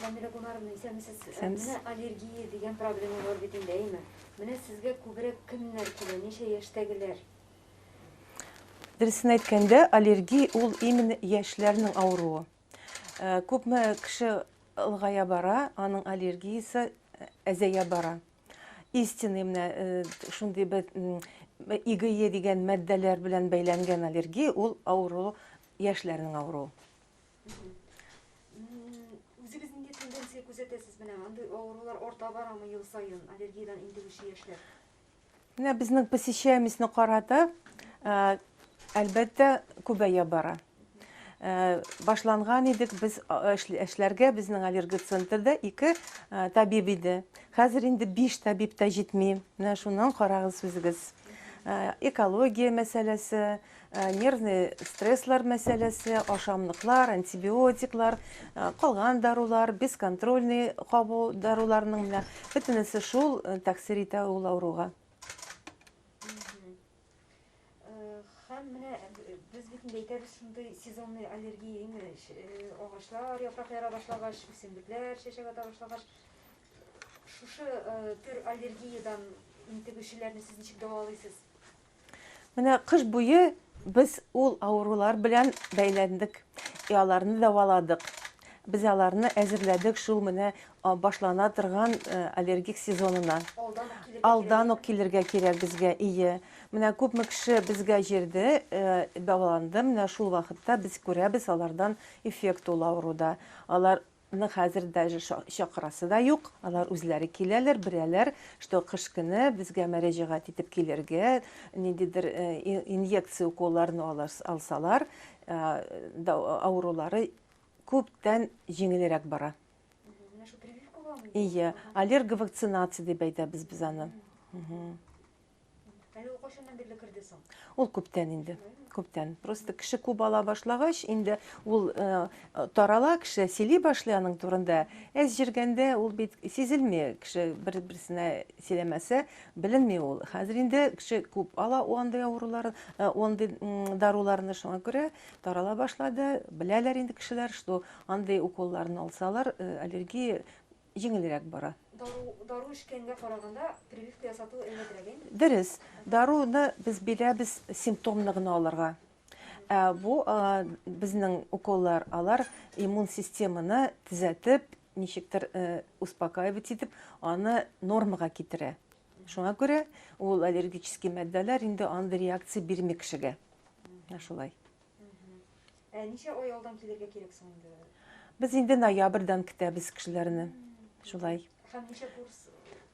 Камилә Гомаровна, исәнмесез. Исәнмесез. Менә аллергия дигән проблема бар бит инде, әйме? Менә сезгә күбрәк кемнәр килә, ничә яшьтәгеләр? Дөресен әйткәндә, аллергия ул именно яшьләрнең авыруы. Э, күпме кеше ылгая бара, аның аллергиясе э, әзәя бара. Истинный менә э, шундый бер игые дигән матдәләр белән бәйләнгән аллергия ул авыру яшьләрнең авыруы. Үзегез нинди тенденция күзәтәсез менә андый авырулар арта барамы ел саен аллергиядән интегүче яшьләр? Менә безнең посещаемостьны карата, э, әлбәттә, күбәя бара. Э, башланган идек без э, эшләргә, безнең аллерго центрда ике табиб иде. Хәзер инде биш табиб та җитми. Менә шуннан карагыз үзегез. Экология мәсьәләсе, Нервный стресслар мәсьәләсе, ашамлыклар, антибиотиклар, калган дарулар, бесконтрольный кабу даруларының менә бөтенесе шул тәэсир итә ул авыруга. Һәм менә без бит инде әйтәбез шундый сезонный аллергия инде агачлар яфрак яра башлагач, үсемлекләр чәчәк ата башлагач шушы төр аллергиядән интегүчеләрне сез ничек дәвалыйсыз? Менә кыш буе без ул авырулар белән бәйләндек, и аларны дәваладык. Без аларны әзерләдек шул менә башлана торган аллергик сезонына. Алдан ук килергә кирәк безгә, ие. Менә күпме кеше безгә җирде, дәваланды, менә шул вакытта без күрәбез алардан эффект ул авыруда. Алар Аны хәзер даже чакырасы да юк, алар үзләре киләләр, беләләр, что кыш көне безгә мәрәҗәгать итеп килергә, ниндидер инъекция уколларны алсалар, авырулары күптән җиңелрәк бара. Менә шул прививкага? Ие, аллерговакцинация дип әйтәбез без аны. Әле ул кайчаннан бирле керде соң? Ул күптән инде. Күптән. Просто кеше күп ала башлагач, инде ул э, тарала, кеше сөйли башлый аның турында. Әз җиргәндә ул бит сизелми, кеше бер-берсенә сөйләмәсә, беленми ул. Хәзер инде кеше күп ала андый авыруларын, э, андый даруларны шуңа күрә тарала башлады. Беләләр инде кешеләр, что андый уколларны алсалар, э, аллергия җиңелрәк бара. Дару, дару эчкәнгә караганда, прививка ясату әйбәтрәк, әйме? Дөрес. Даруны без бирәбез симптомны гына алырга. Ә бу а, безнең уколлар, алар иммун системаны төзәтеп, ничектер э, успокаивать итеп, аны нормага китерә. Шуңа күрә ул аллергический матдәләр инде андый реакция бирми кешегә. Ә шулай. Ә ничә ай алдан килергә кирәк соң инде? Без инде ноябрьдан көтәбез кешеләрне. Шулай. Һәм ничә курс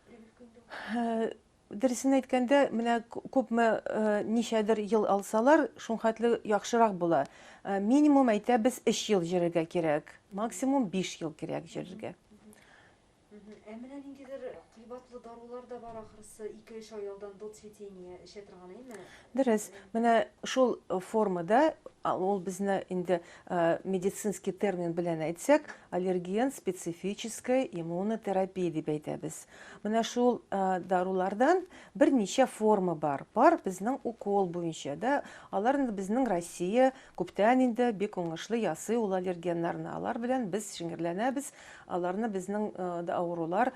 прививка инде? Э, дөресен әйткәндә, менә күпме э, ничәдер ел алсалар, шунхатлы яхшырак була. Э, минимум әйтәбез 3 ел җөрергә кирәк, максимум 5 ел кирәк җөрергә. Ә менә ниндидер кыйбатлы дарулар да бар, ахрысы, ике-өч ай алдан до цветения эчә торган, әйме? Дөрес. Менә шул формада, ул безне инде медицинский термин белән әйтсәк, аллерген специфической иммунотерапии дип әйтәбез. Менә шул дарулардан берничә форма бар. Бар безнең укол буенча, да, алар инде безнең Россия Күптән инде бик уңышлы ясый ул аллергеннарны. Алар белән без шиңерләнәбез, аларны безнең дә авырулар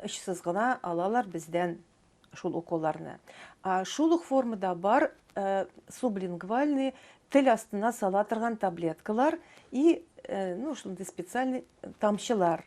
очсыз гына алалар бездән шул уколларны. Ә шул ук формада бар сублингвальный тел астына сала торган таблеткалар и ну шундый специальный тамчылар.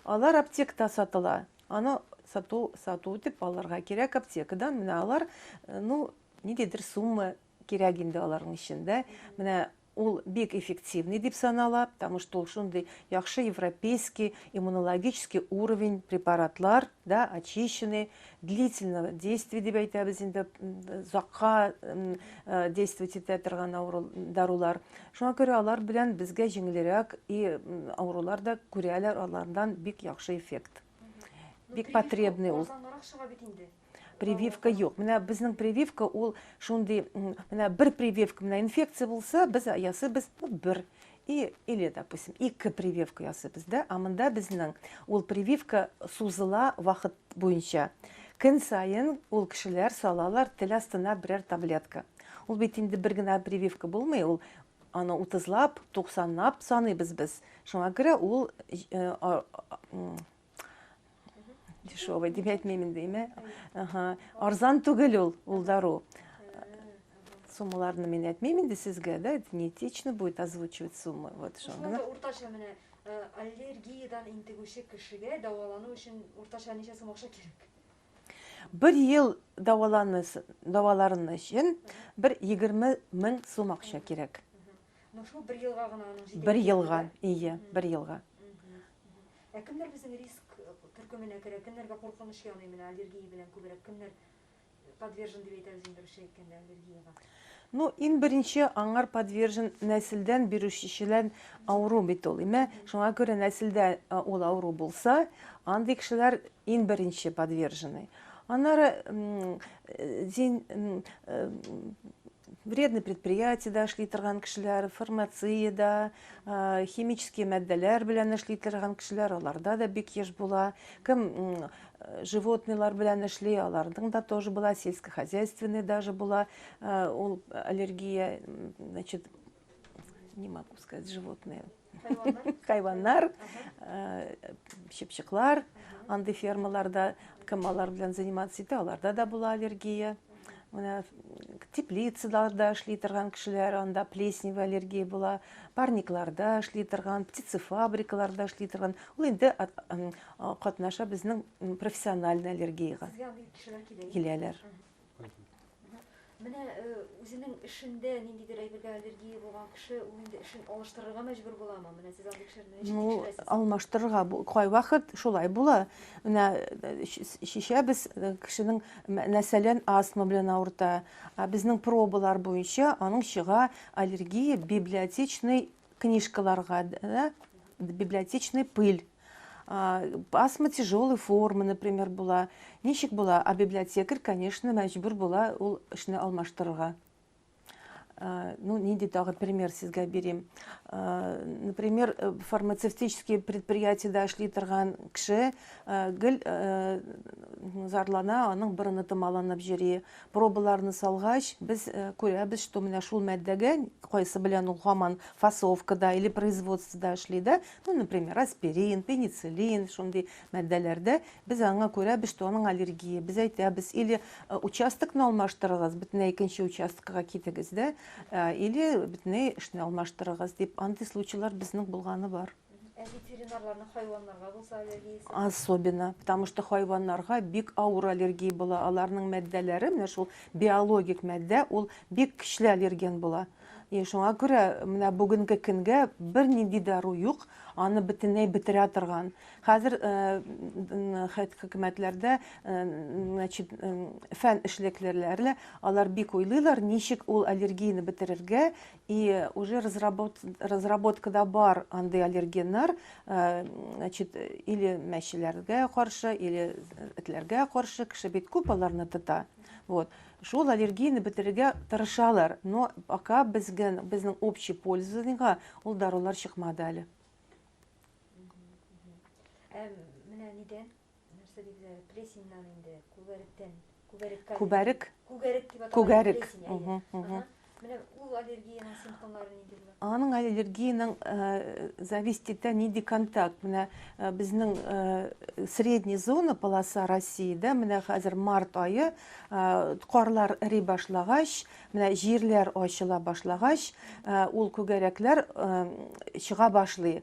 Алар аптекта сатыла. Аны сату сату итеп алырга кирәк аптекадан. Менә алар ну ниндидер сумма Кирәк инде аларның өчен дә. Менә ул бик эффективный дип санала, потому что ул шундый яхшы европейский иммунологический уровень препаратлар, да, очищенный, длительного действия дип әйтәбез инде, озакка действовать итә торган авыру дарулар. Шуңа күрә алар белән безгә җиңелрәк и авырулар да күрәләр алардан бик яхшы эффект. Бик потребный ул. Бик азангарак чыга бит инде. прививка юк менә безнең прививка ул шундый менә бер прививка менә инфекция булса без ясыйбыз бер и или допустим ике прививка ясыйбыз да а монда безнең ул прививка сузыла вакыт буенча көн сайын ул кешеләр салалар тел астына берәр таблетка ул бит инде бер генә прививка булмый ул аны утызлап туксанлап саныйбыз без шуңа күрә ул э, Дешевый дип әйтмәймен дейме? Ага. Арзан түгел ул, ул дару. Суммаларны мин әйтмәймен инде сезгә, да? Это не этично будет озвучивать суммы. Вот что. Шунда уртача менә э, аллергиядән интегүче кешегә дәвалану өчен уртача ничә сум акча кирәк? Бер ел дәваланысы, дәваларыны өчен бер 20 мең сум акча кирәк. Ну шул бер елга гына аның җитә. Бер елга, ие, бер елга. Ә кемнәр безнең риск төркеменә керә, кемнәргә куркыныч яный менә аллергия белән күбрәк кемнәр подвержен дип әйтәбез инде русча әйткәндә аллергиягә? Ну, ин беренче аңар подвержен нәселдән бирүчечелән авыру бит ул. Имә, шуңа күрә нәселдә ул авыру булса, андый кешеләр ин беренче подвержены. Аннары зин Вредный предприятиедә эшли торган кешеләр, фармациядә, химический матдәләр белән эшли торган кешеләр, аларда да бик еш була. Кем животныйлар белән эшли, аларның да тоже була, сельскохозяйственный даже була, ул аллергия, значит, не могу сказать, животные. Хайваннар, чыпчыклар, анды фермаларда кем алар белән заниматься итә, аларда да була аллергия. Менә теплицаларда эшли торган кешеләр, анда плесневая аллергия була, парникларда эшли торган, птицефабрикаларда эшли торган. Ул инде катнаша безнең профессиональный аллергиягә. Сезгә андый кешеләр киләләр. Менә үзенең эшендә ниндидер әйбергә аллергия булган кеше, ул инде эшен алыштырырга мәҗбүр буламы? Менә сез андый кешеләрне ничек Ну, тикшерәсез? алмаштырырга бу- кайвакыт шулай була. Менә э, чи- чишәбез э, кешенең, мә- мәсәлән, астма белән авырта. А безнең пробалар буенча аның чыга аллергия библиотечный книжкаларга, да, библиотечный пыль, асма тяжелый форма, например, була. Ничек була? А библиотекарь, конечно, мәҗбүр була ул эшне алмаштырырга. Ну, нинди тагы пример сезгә бирим. Например, э, фармацевтический предприятиедә эшли торган кеше э, гел э, зарлана, аның борыны томаланып җөри. Пробаларны салгач, без күрәбез, что менә шул матдәгә, кайсы белән ул һаман фасовкада или производствода эшли дә, ну, например, аспирин, пенициллин, шундый матдәләрдә, без аңа күрәбез, что аның аллергия, без әйтәбез, или участокны алмаштырыгыз, бөтенләй икенче участкага китегез дә, или бөтенләй эшне алмаштырыгыз, дип, андый случайлар безнең булганы бар. Ә ветеринарларны хайваннарга булса аллергиясе? Особенно, потому что хайваннарга бик авыр аллергия була. Аларның мәддәләре, менә шул биологик мәддә, ул бик көчле аллерген була. И шуңа күрә менә бүгенге көнгә бернинди дару юк, аны бөтенләй бетерә торган. Хәзер э, хөкүмәтләрдә э, значит, э, фән эшлеклеләре алар бик уйлыйлар, ничек ул аллергияне бетерергә, и уже разработ разработкада бар андый аллергеннар э, значит или мәчеләргә каршы или этләргә каршы кеше бит күп аларны тота вот шул аллергияне бетерергә тырышалар но пока безгә безнең общий пользаныйга ул дарулар чыкмады әле ә менә нидән Нәрсә диделәр әле? Плесеньнан инде, күгәректән. Күгәреккә. Күбәрек? Күгәрек дип атала. Күгәрек. Плесень, әйе. Мгм, мгм. Ага. Менә ул аллергиянең симптомлары нинди була? Аның аллергиянең э, зависит итә нинди контакт. Менә э, безнең э, средний зона полоса Россиядә менә хәзер март айы э, карлар эри башлагач, менә җирләр ачыла башлагач, э, ул күгәрәкләр э, чыга башлый.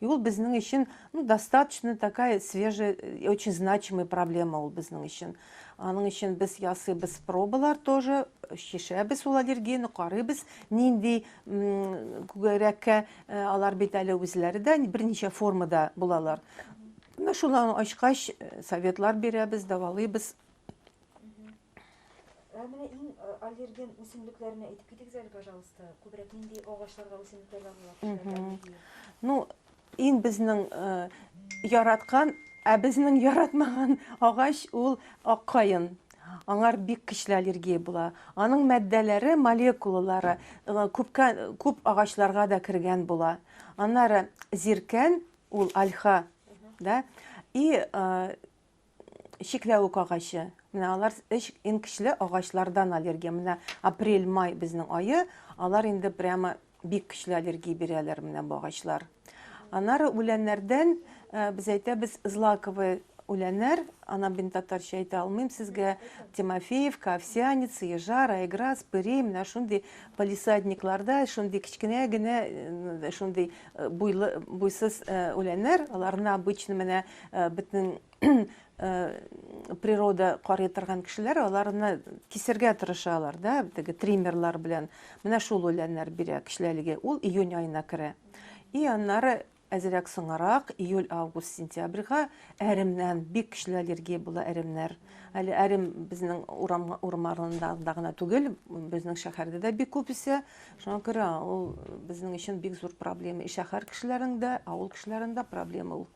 И ул безнең өчен, ну, достаточно такая свежая, э, очень значимая проблема ул безнең өчен. Аның өчен без ясыйбыз пробалар тоже, чишәбез ул аллергияне, карыйбыз, нинди күгәрәккә э, алар бит әле үзләре дә берничә формада булалар. Менә шуларны ачкач, э, советлар бирәбез, давалыйбыз. Ә менә иң э, аллерген үсемлекләренә әйтеп китегез әле, пожалуйста. Күбрәк нинди агачларга, үсемлекләргә була кешеләрдә аллергия? Ну, иң безнең э, яраткан, ә безнең яратмаган агач ул ак каен. Аңар бик көчле аллергия була. Аның матдәләре, молекулалары э, күпкә, күп агачларга да кергән була. Аннары зиркән, ул альха, да, и э, чикләвек агачы. Менә алар өч иң көчле агачлардан аллергия. Менә апрель-май безнең айы, алар инде прямо бик көчле аллергия бирәләр менә бу агачлар. Анары үләннәрдән э, без әйтәбез злаковые үләннәр, ана бин татарча әйтә алмыйм сезгә, Тимофеевка, Овсяница, Ежар, Айграс, Пыри, менә шундый полисадникларда, шундый кечкенә генә, э, шундый э, буйлы, буйсыз э, үләннәр, аларны обычно менә Э, бөтен э, природа карый торган кешеләр аларны кисергә тырышалар да теге триммерлар белән менә шул үләннәр бирә кешеләргә ул июнь аена керә и аннары әзерәк соңарак июль август сентябрьга әремнән бик көчле аллергия була әремнәр әле әрем безнең урам урмарында гына түгел безнең шәһәрдә дә бик күп үсә шуңа күрә ул безнең өчен бик зур проблема и шәһәр кешеләрендә авыл кешеләрендә проблема ул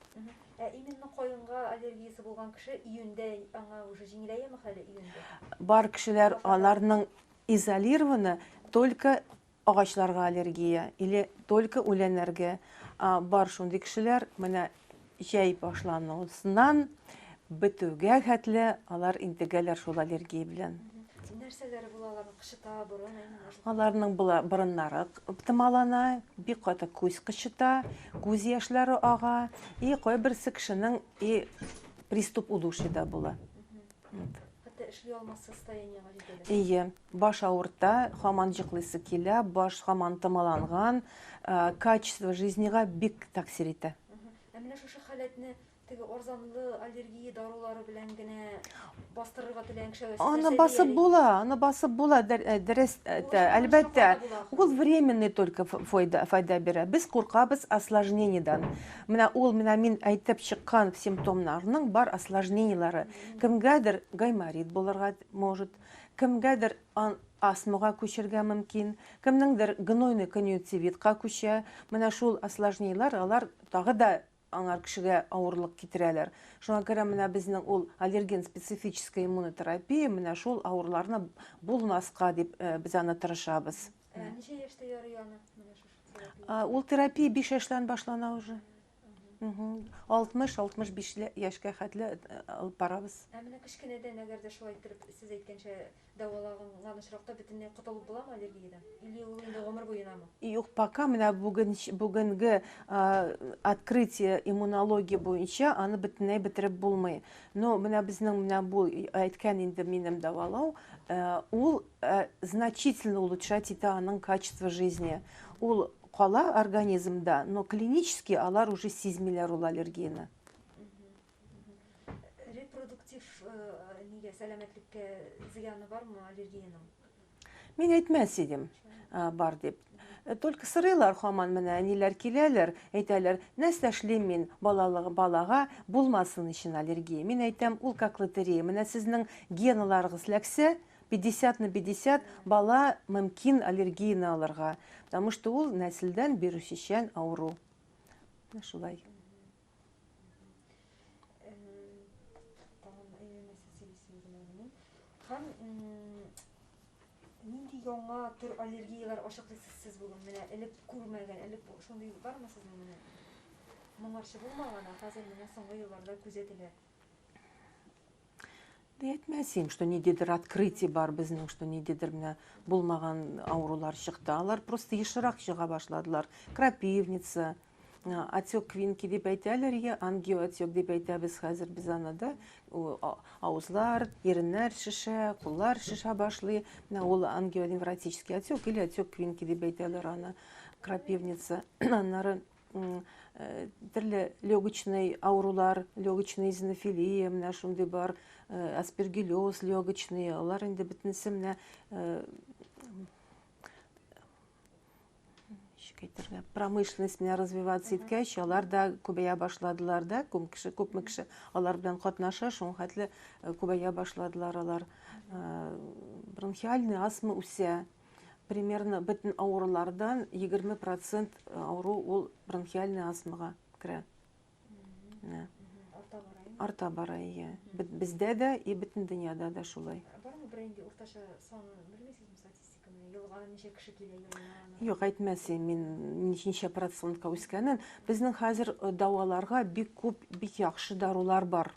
Ә именно каенга аллергиясе булган кеше июньдә аңа уже җиңеләяме хәле июньдә? Бар кешеләр аларның изолированы только агачларга аллергия или только үләннәргә. Бар шундый кешеләр менә җәй башлануыннан Бетүгә хәтле алар интегәләр шул аллергия белән. Нәрсәләре була аларның кычыта, борын, әйме? Аларның була борыннары томалана, бик каты күз кычыта, күз яшьләре ага, и кайберсе кешенең и приступ удушья да була. Хәтта эшли алмас состояниегә җитәләр. Ие, баш авырта, хаман җыклыйсы килә, баш хаман томаланган, качество жизнега бик таксир итә. Ә менә шушы халәтне Теге арзанлы аллергия дарулары белән генә бастырырга теләгән кеше Аны басып була, аны басып була, э, дөрес, э, әлбәттә. Ул временный только файда, файда бирә. Без куркабыз осложнениедан. Менә ул, менә мин әйтеп чыккан симптомнарның бар осложнениеләре. Кемгәдер гайморит булырга может, кемгәдер астмага күчергә мөмкин, кемнеңдер гнойный конъюнктивитка күчә. Менә шул осложнениеләр, алар тагы да Аңар кешегә авырлык китерәләр. Шуңа күрә менә безнең ул аллерген специфическая иммунотерапия менә шул авырларны булмаска дип э, без аны тырышабыз. Ә ничә яшьтә ярый аны менә шушы терапия? Ул терапия 5 яшьтән башлана уже. 60-65 яшькә хәтле э, алып барабыз. Ә менә кечкенәдән әгәр дә шулай иттереп сез әйткәнчә Дәваланган очракта бөтенләй котылып буламы аллергиядән? Или ул инде гомер буенамы? Юк, пока менә бүген бүгенге открытие иммунология буенча аны бөтенләй бетереп булмый. Но менә безнең менә бу әйткән инде минем дәвалау, ул значительно улучшать итә аның качество жизни. Ул кала организмда, но клинически алар уже сизмиләр ул аллергияне. Репродуктив нигә, сәламәтлеккә зыяны бармы аллергиянең? Мин әйтмәс идем, бар дип. Только сырыйлар хаман менә әниләр киләләр, әйтәләр, нәрсә эшлим мин балалыгы балага булмасын өчен аллергия. Мин әйтәм, ул как лотерея. Менә сезнең геналарыгыз ләксә, 50 на 50 бала мөмкин аллергияне алырга. Потому что ул нәселдән бирүчечән авыру. Шулай. Һәм нинди яңа төр аллергияләр ачыклыйсыз сез бүген? Менә элек күрмәгән, элек шундый бармы сезнең менә? Моңарчы булмаган, ә хәзер менә соңгы елларда күзәтелә. әйтмәсим, что ниндидер открытие бар безнең, что ниндидер менә булмаган авырулар чыкты. Алар просто ешрак чыга башладылар. Крапивница, отек квинки дип әйтәләр, я ангиоотек дип әйтәбез хәзер без аны да. Авызлар, иреннәр шешә, куллар шешә башлый. Менә ул ангионевротический отек или отек квинки дип әйтәләр аны. Крапивница, аннары төрле легочный авырулар, легочный изонофилия, менә шундый бар, аспергиллез легочный, алар инде бөтенесе менә әйтергә промышленность менә развиваться иткәч алар да күбәя башладылар да күп кеше күпме кеше алар белән катнаша шуңа хәтле күбәя башладылар алар бронхиальный астма үсә Примерно бөтен авырулардан 20 процент авыру ул бронхиальный астмага керә. Арта бара, иә? Арта бара, иә. Бездә дә и бөтен дөньяда да шулай. Бар ма бер инде уртача санын белмисезме статистиканы? Елга ничә кеше килә елына? Юк, әйтмәсе, мин ничә процентка үскәнен. Безнең хәзер э, дәваларга бик күп, бик яхшы дарулар бар.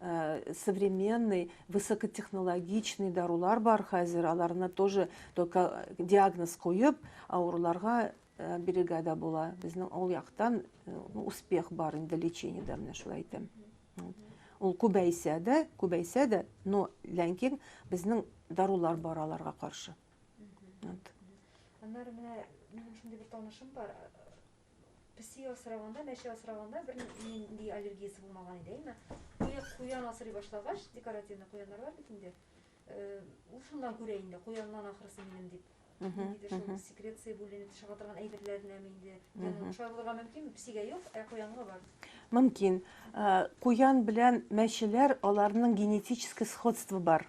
Э, современный высокотехнологичный дарулар бар хәзер аларны тоже только диагноз куеп авыруларга э, бирергә дә була безнең ул яктан э, успех бар инде лечениедә менә шулай әйтәм ул күбәйсә дә күбәйсә дә но ләкин безнең дарулар бар аларга каршы аннары менә минем шундый бер танышым бар Песи асраганда, мәче асраганда бер нинди аллергиясе булмаган иде, әйме? Куян асрый башлагач, декоративный куяннар бар бит инде. Э, ул шуннан күрә инде, куяннан ахрысы минем дип. Ниндидер шул секреция бүленеп чыга торган әйберләренә инде. Янын шулай булырга мөмкин, песигә юк, ә куянга бар. Мөмкин. Э, куян белән мәчеләр, аларның генетический сходство бар.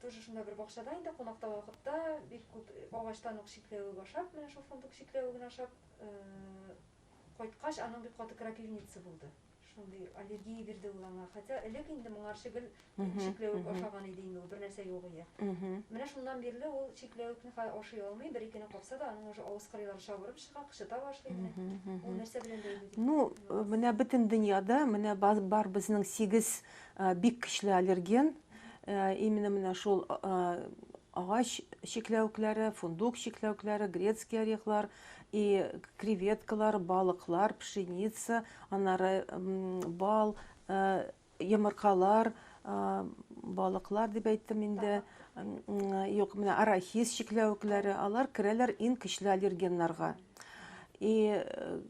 Тоже шунда бер бакчада инде кунакта вакытта бик күп агачлан ук чикләвек ашап, менә шул фундук чикләвеген ашап кайткач, аның бик каты крапивница булды. Шундый аллергия бирде ул аңа. Хотя элек инде моңарчы гел чикләвек ашаган иде инде ул, бер нәрсә юк ия. Менә шуннан бирле ул чикләвекне хәзер ашый алмый, бер икене капса да, аның уже авыз кырыйлары чабырып чыга, кычыта башлый менә. Ул нәрсә белән бәйле? Ну, менә бөтен дөньяда менә бар безнең 8 бик көчле аллерген, Э, именно менә шул э, э, агач чикләвекләре, фундук чикләвекләре, грецкий орехлар и креветкалар, балыклар, пшеница, анары бал, йомыркалар, балыклар дип әйттем инде. Юк, менә арахис чикләвекләре, алар керәләр ин көчле аллергеннарга. И э,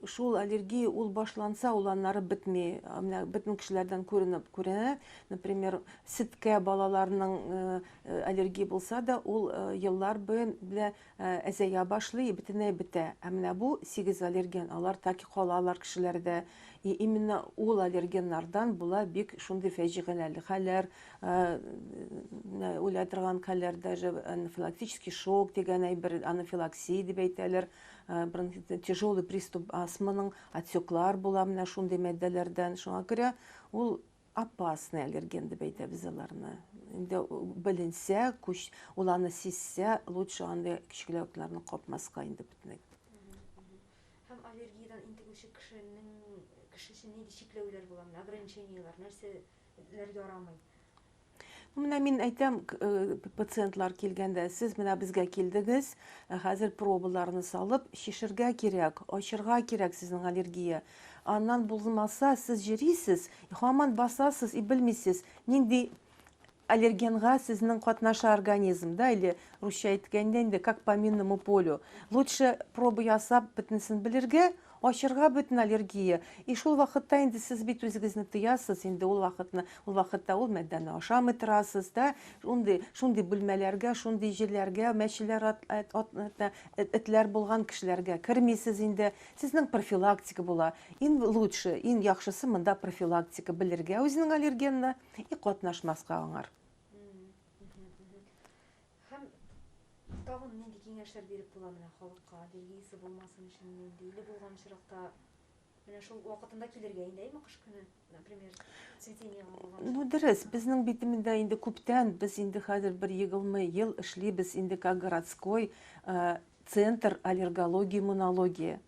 шул аллергия ул башланса, ул аннары бетми. Менә бөтен кешеләрдән күренеп күренә. Например, ситкә балаларның э, э, аллергия булса да, ул еллар белән әзәя башлый, бөтенләй бетә. Ә менә бу сигез аллерген, алар так и калалар кешеләрдә. И именно ул аллергеннардан була бик шундый фәҗигаләле хәлләр, Э, э, уйлай торган хәлләр даже анафилактический шок дигән әйбер анафилаксия дип әйтәләр э, тяжелый приступ астманың отеклар була менә шундый матдәләрдән шуңа күрә ул опасный аллерген дип әйтәбез аларны инде беленсә көч ул аны сизсә лучше андый кечкеләүкләрне капмаска инде бөтенләй һәм аллергиядан интегүче кешенең кеше өчен нинди чикләүләр була менә ограничениелар нәрсә нәр ярамый. Менә мин әйтәм, э, пациентлар килгәндә, сез менә безгә килдегез, э, хәзер пробаларны салып, шешергә кирәк, ачырга кирәк сезнең аллергия. Аннан булмаса, сез җөрисез, хаман басасыз и белмисез, нинди аллергенга сезнең катнаша организм, да, или русча әйткәндә инде, как по минному полю. Лучше проба ясап, бетнесен белергә, Ачырга бөтен аллергия. И шул вакытта инде сез бит үзегезне тыясыз, инде ул вакытны, ул вакытта ул мәддәне ашамый торасыз, да, шундый, шундый бүлмәләргә, шундый җирләргә, мәчеләр, ат, ат, ат, ат, эт, этләр булган кешеләргә кермисез инде. Сезнең профилактика була. Ин лучше, ин яхшысы монда профилактика, белергә үзенең аллергенына и катнашмаска аңар. Һәм тагын нинди киңәшләр биреп була менә халыкка, аллергиясе булмасын өчен нинди, или булган очракта менә шул вакытында килергә инде, әйме, кыш көне, например, цветениега булган. Ну, дөрес, безнең битемендә инде күптән, без инде хәзер бер егылмы ел эшлибез, инде как городской, Центр аллергология-иммунология.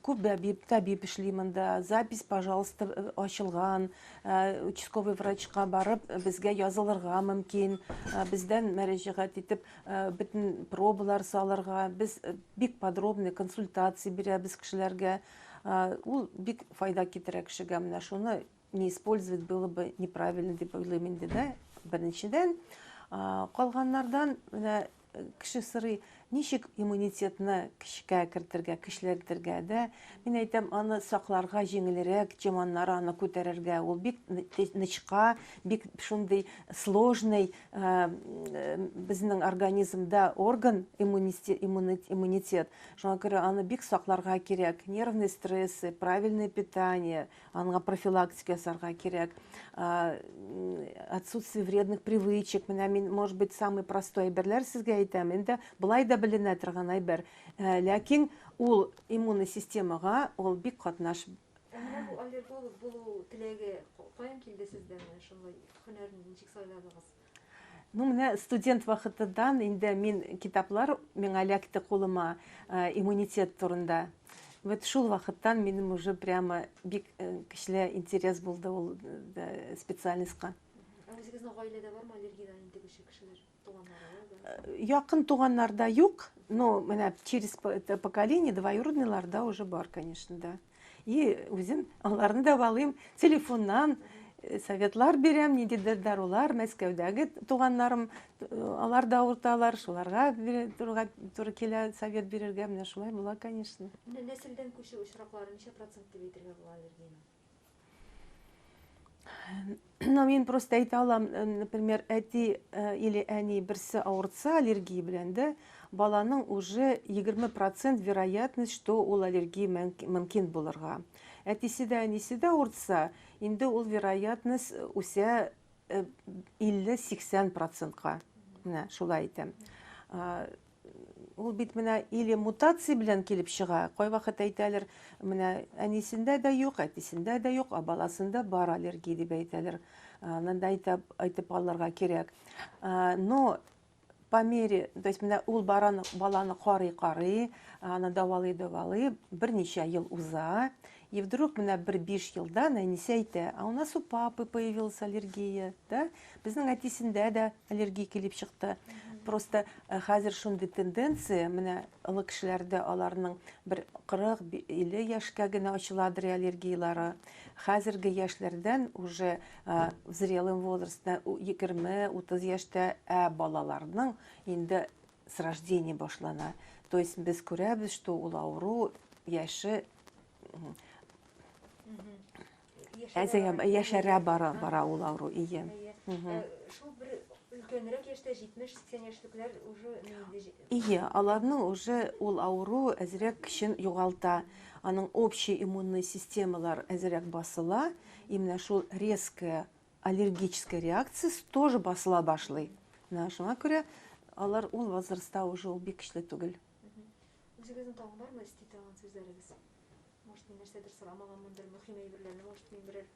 Күп бәбип, табиб эшли монда. Запись, пожалуйста, ачылган. Участковый врачка барып, безгә язылырга мөмкин. Бездән мәрәҗәгать итеп, бөтен пробалар салырга. Без бик подробный консультация бирәбез кешеләргә. Ул бик файда китерә кешегә. Менә шуны не использовать было бы неправильно дип уйлыйм инде да беренчедән калганнардан менә кеше сорый ничек иммунитетны көчкә кертергә көчләндергә дә мин әйтәм аны сакларга җиңелрәк чеманнар аны күтәрергә ул бик нычка бик шундый сложный безнең организмда орган иммунитет шуңа күрә аны бик сакларга кирәк нервный стрессы правильное питание Анга профилактика ясарга кирәк. Отсутствие вредных привычек. Менә мин, может быть, самый простой әйберләр сезгә әйтәм. Инде былай да беленә торган әйбер. Э, ләкин ул иммунный системага ул бик катнаш бу аллерголог булу теләге каян килде сездә менә шулай һөнәрне ничек сайладыгыз Ну, менә студент вакытыдан инде мин китаплар миңа эләкте кулыма э, иммунитет турында. Вот шул вакыттан минем уже прямо бик э, көчле интерес булды ул э, специальностька. Ә үзегезнең гаиләдә бармы аллергиядән интегүче кешеләр? Туганнары? Якын туганнарда юк, но менә через поколение двоюродныйларда уже бар, конечно, да. И үзем аларны да валыйм, телефоннан э, советлар бирәм, ниндидер дарулар, Мәскәүдәге туганнарым, э, алар да авырталар, шуларга торырга туры килә совет бирергә, менә шулай була, конечно. Менә нәселдән күчү очраклары ничә процент дип әйтергә була аллергияне? но мин просто әйтә алам э, например әти э, или әни берсе авыртса аллергия белән дә баланың уже 20 процент вероятность что ул аллергия мөмкин булырга әтисе дә әнисе дә авыртса инде ул вероятность э, үсә 50-80 процентка менә шулай әйтәм Ул бит менә или мутация белән килеп чыга. Кайвакыт әйтәләр, менә әнисендә дә юк, әтисендә дә юк, ә баласында бар аллергия дип әйтәләр. Аны да әйтеп, әйтеп алырга кирәк. Но по мере, то есть менә ул баран, баланы карый-карый, аны давалый-давалый, берничә ел уза, И вдруг менә бер биш елдан әнисе әйтә, а у нас у папы появилась аллергия, да? Безнең әтисендә дә аллергия килеп чыкты. Просто э, хәзер шундый тенденция, менә олы кешеләрдә аларның бер 40-50 яшькә генә ачыладыр аллергияләре. Хәзерге яшьләрдән уже э, в зрелом возрасте 20-30 яшьтә ә балаларның инде с рождения башлана. То есть без күрәбез, что ул авыру яше Әзәгә яшәрә бара бара ул авыру ие. Э, шул бер өлкәнрәк яшьтә 70-80 яшьлекләр уже Ие, аларның уже ул авыру әзрәк көчен югалта. Аның общий иммунный системалар әзрәк басыла, и менә шул резкая аллергическая реакция тоже басыла башлый. Менә шуңа күрә алар ул возрастта уже ул бик көчле түгел. Үзегезнең тагын бармы эсти торган сүзләрегез? Может, мин нәрсәдер сорамаганмындыр, мөһим әйберләрне, может, мин берәр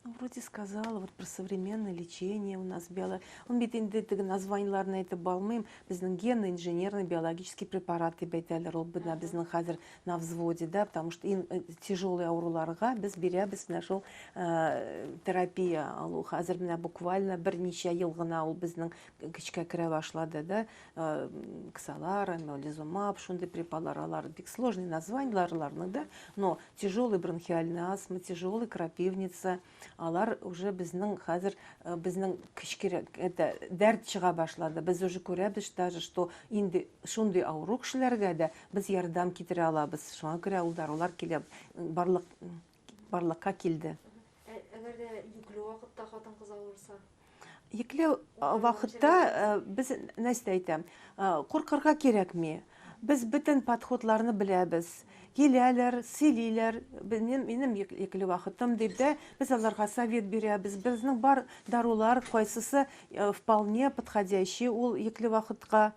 Ну, вроде сказала, вот про современное лечение у нас биолог... Он бит инде теге названиеләрне әйтеп балмыйм. Безнең генно инженерный биологический препарат дип әйтәләр. Ул бина безнең хәзер на взводе, да, потому что иң э, тяжелый авыруларга без бирәбез менә шул э, терапия алу. Хәзер менә буквально берничә ел гына ул безнең көчкә керә башлады, да. Э, ксалар, мелизумаб, шундый препалар, алар бик сложный названиеларларны да, но тяжелый бронхиальный астма, тяжелый крапивница, алар уже безнең хәзер э, безнең кечкенә это дәрт чыга башлады. Без уже күрәбез даже, что инде шундый авыру кешеләргә дә без ярдәм китерә алабыз. Шуңа күрә ул дарулар килә барлык барлыкка килде. Әгәр дә йөкле вакытта хатын-кыз авырса? Йөкле вакытта без нәрсә әйтәм? Куркырга кирәкми. Без бөтен подходларны беләбез. Киләләр, сөйлиләр, минем минем йөкле вакытым дип дә без аларга совет бирәбез. Безнең бар дарулар кайсысы вполне подходящий ул йөкле вакытка.